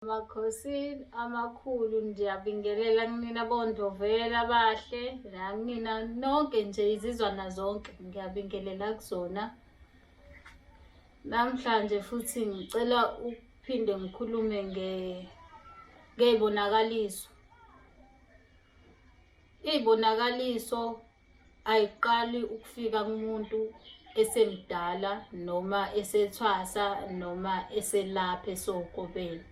Makhosini amakhulu ndiyabingelela kunina bondovela abahle nakunina nonke nje izizwana zonke ngiyabingelela kuzona namhlanje futhi ngicela ukuphinde ngikhulume ngey'bonakaliso iy'bonakaliso ayiqali ukufika kumuntu esemdala noma esethwasa noma eselapha esokobeni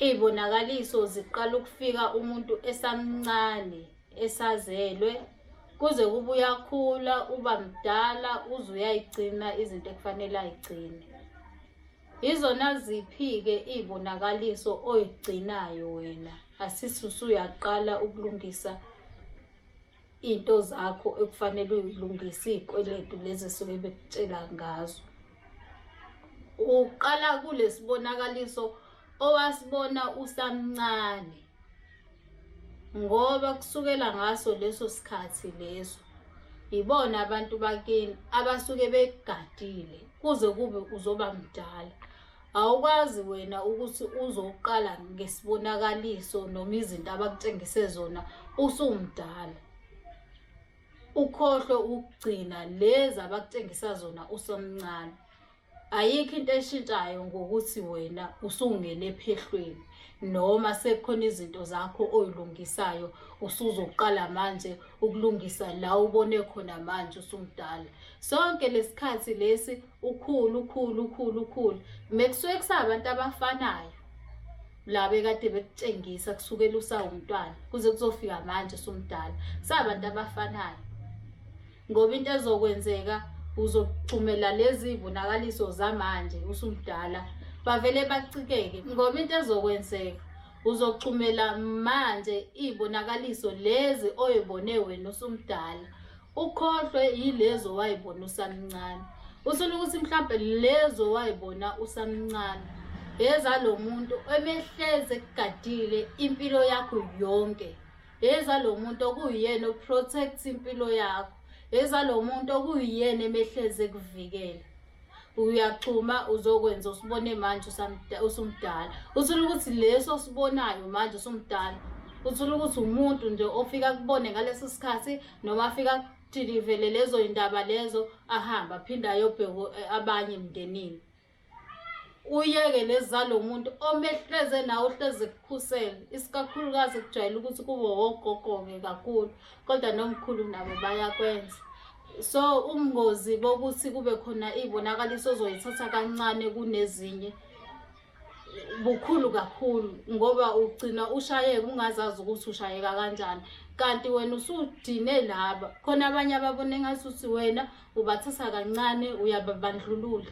iy'bonakaliso ziqala ukufika umuntu esamncane esazelwe kuze kube uyakhula uba mdala uze uyayigcina izinto ekufanele ayigcine yizona ziphi-ke iy'bonakaliso oyigcinayo wena asisi usuyaqala ukulungisa iy'nto zakho ekufanele uyilungise iy'kweletu lezi esuke bekutshela ngazo uqala kulesibonakaliso owasibona usamncane ngoba kusukela ngaso leso sikhathi leso yibona abantu bakini abasuke begadile kuze kube uzoba mdala Awukwazi wena ukuthi uzoqala ngesibonakaliso noma izinto abakutshengise zona usumdala. Ukhohlwe ukugcina lezi abakutshengisa zona usemncane. Ayikho into eshintshayo ngokuthi wena usungene ephehlweni noma sekukhona izinto zakho oyilungisayo usuzoqala manje ukulungisa la ubone khona manje usumdala. Sonke lesikhathi lesi ukhulu ukhulu ukhulu ukhulu mekusuke kusabantu abafanayo la bekade bekutshengisa kusukela usawumntwana kuze kuzofika manje sumdala sabantu abafanayo ngoba into ezokwenzeka uzogxumela lezi bonakaliso zamanje usumdala bavele bacikeke ngoba into ezokwenzeka uzogxumela manje ibonakaliso lezi oyibone wena usumdala ukhohlwe yilezo wayibona usamncane usula ukuthi mhlawumbe lezo wayibona usamncane yeza lo muntu emehleze kugadile impilo yakho yonke yeza lo muntu okuyiyena oprotect impilo yakho yeza lo muntu okuyiyena emehleze kuvikela uyachuma uzokwenza usibone manje usumdala uthole ukuthi leso osibonayo manje usumdala uthole ukuthi umuntu nje ofika kubone ngaleso sikhathi noma afika kuthini vele lezo yindaba lezo ahamba aphinde ayobheka eh, abanye emndenini uyeke lezi zalo muntu omehleze nawe uhleze kukhusele isikakhulukazi kujwayele ukuthi kube wogogo-ke kakhulu kodwa nomkhulu nabo bayakwenza so ubungozi bokuthi kube khona iy'bonakaliso ozoyithatha kancane kunezinye bukhulu kakhulu ngoba ugcina ushayeka ungazazi ukuthi ushayeka kanjani kanti wena usudine laba khona abanye ababona engathi uthi wena ubathatha kancane uyababandlulula